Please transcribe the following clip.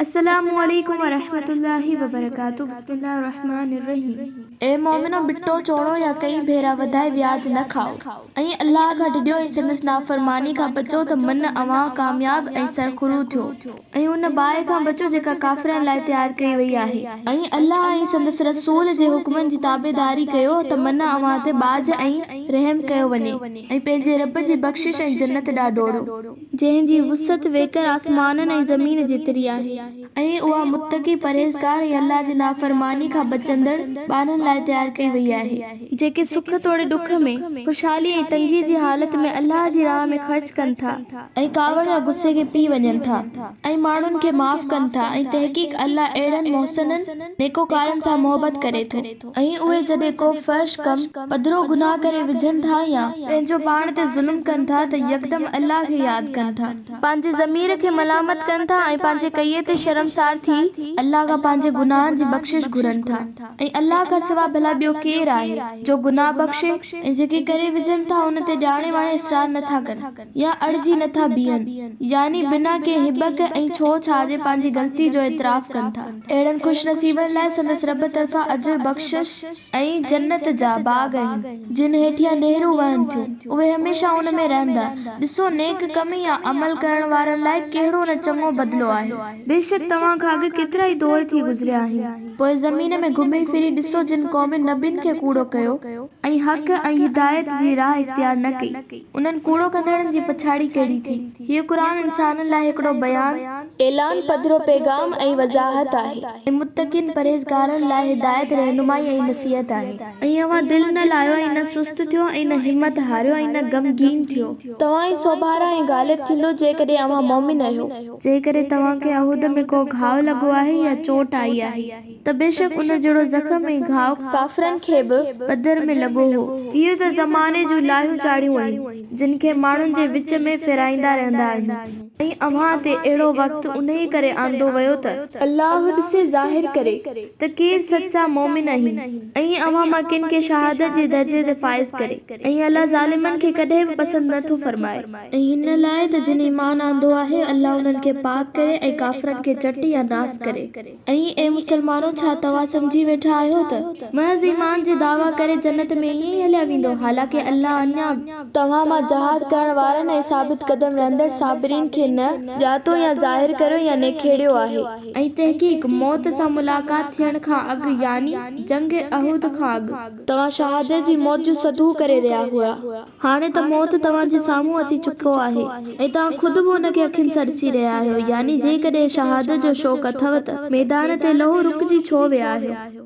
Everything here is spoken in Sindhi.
السلام عليڪم ورحمة الله وبرڪاته بسم الله الرحمٰن الرحيم اي مؤمنو ٻٽو چوڻو يا ڪئين ڀيرا وڌائي وياج نه کائو ۽ الله کان ڊڄو ۽ سندس نافرماني کان بچو ته من اوهان ڪامياب ۽ سرخرو ٿيو ۽ ان باهه کان بچو جيڪا ڪافرن لاء تيار ڪئي وئي آهي ۽ الله ۽ سندس رسول جي حڪمن جي تابعداري ڪيو ته من اوهان تي ٻاجهه ۽ رحم ڪيو وڃي ۽ پنهنجي رب جي بخشش ۽ جنت ڏانهن ڊوڙو. جنهن جي وسعت ويڪر آسمانن ۽ زمين جيتري آهي. ۽ اها متقي، پرهيزگار ۽ الله جي نافرماني کان بچندڙ ٻانهن لاء تيار ڪئي وئي آهي. جيڪي سک توڙي ڏک ۾، خوشحالي ۽ تنگي جي حالت ۾ الله جي راهه ۾ خرچ ڪن ٿا، ۽ ڪاوڙ يا غصي کي پي وڃن ٿا، ۽ ماڻهن کي معاف ڪن ٿا، ۽ تحقيق الله اهڙن محسنن، نيڪوڪارن، سان محبت ڪري ٿو. ۽ اهي جڏهن ڪو فحش ڪم، پڌرو گناهه، ڪري وجهن ٿا يا پنهنجو پاڻ تي ظلم ڪن ٿا ته يڪدم الله کي ياد ڪن ٿا. پنهنجي ضمير کي ملامت ڪن ٿا ۽ پنهنجي ڪيئي تي شرمسار ٿي الله کان پنهنجي گناهن جي بخشش گهرن ٿا ۽ الله کان سوا ڀلا ٻيو ڪير آهي جو گناهه بخشي ۽ جيڪي ڪري وجهن ٿا ان تي ڄاڻي واڻي اصرار نه ٿا ڪن. يا اڙجي نه ٿا بيهن، يعني بنا ڪنهن هٻڪ ۽ ڇو ڇا جي پنهنجي غلطي جو اعتراف ڪن ٿا. اهڙن خوش نصيبن لاء سندس رب طرفان اجر، بخشش ۽ جنت جا باغ آهن، جن هيٺيان نهرون وهن ٿيون، اهي هميشه ان ۾ رهندا. ڏسو نيڪ ڪم يا عمل ڪرڻ وارن لاء ڪهڙو نه چڱو بدلو آهي. بيشڪ توهان کان اڳ ڪيترائي دور ٿي گذريا آهن. پوء زمين ۾ گهمي ڦري ڏسو جن قومن نبين کي ڪوڙو ڪيو. ۽ حق ۽ هدايت جي راهه اختيار نه ڪئي. انهن ڪوڙو ڪندڙن جي پڇاڙي ڪهڙي ٿي. هيء قرآن انسانن لاء هڪڙو بيان، اعلان، پڌرو پيغام ۽ وضاحت آهي. ۽ متقين، پرهيزگارن، لاء هدايت، رهنمائي ۽ نصيحت آهي. ۽ اوهان دل نه لاهيو ۽ نه سست ٿيو ۽ نه همت هاريو ۽ نه غمگين ٿيو. توهان ئي سوڀارا ۽ غالب ٿيندو جيڪڏهن اوهان مؤمن اهيو. جيڪڏهن توهان کي احد ۾ ڪو گهاء لڳو آهي يا چوٽ آئي آهي. ته بيشڪ ان جهڙو زخم ۽ گهاء ڪافرن کي به بدر ۾ لڳو هو. اهي ته زماني جون لاهيون چاڙهيون آهن، جن کي ماڻهن جي وچ ۾ ڦيرائيندا رهندا آهيون ۽ اوهان تي اهڙو وقت انهيء ڪري آندو ويو ته، الله ڏسي ظاهر ڪري، ته ڪير سچا مؤمن آهن ۽ اوهان مان ڪن کي شهادت جي درجي تي فائز ڪري ۽ الله ظالمن کي ڪڏهن به پسند نه ٿو فرمائي. ۽ هن لاء ته جن ايمان آندو آهي، الله انهن کي پاڪ ڪري ۽ ڪافرن کي چٽ يا ناس ڪري. ۽ اي مسلمانو! ڇا توهان سمجهي ويٺا آهيو ته. محض ايمان جي دعويٰ ڪري جنت ۾ ائين ئي هليا ويندو، حالانڪه الله اڃا به. توهان مان جهاد ڪرڻ وارن ۽ ثابت قدم رهندڙ صابرين کي نه. ڄاتو يا ظاهر ڪريو يا نکيڙيو آهي. ۽ تحقيق، موت سان ملاقات ٿيڻ کان اڳ، يعني جنگ احد کان اڳ. توهان شهادت جي موت جو سڌو ڪري رهيا هئا. هاڻي ته موت توهان جي سامهون اچي چڪو آهي ۽ توهان خود به ان کي اکين سان ڏسي رهيا آهيو، يعني جيڪڏهن شهادت جو شوق اٿئو ته ميدان تي لهو رڪجي ڇو ويا آهيو؟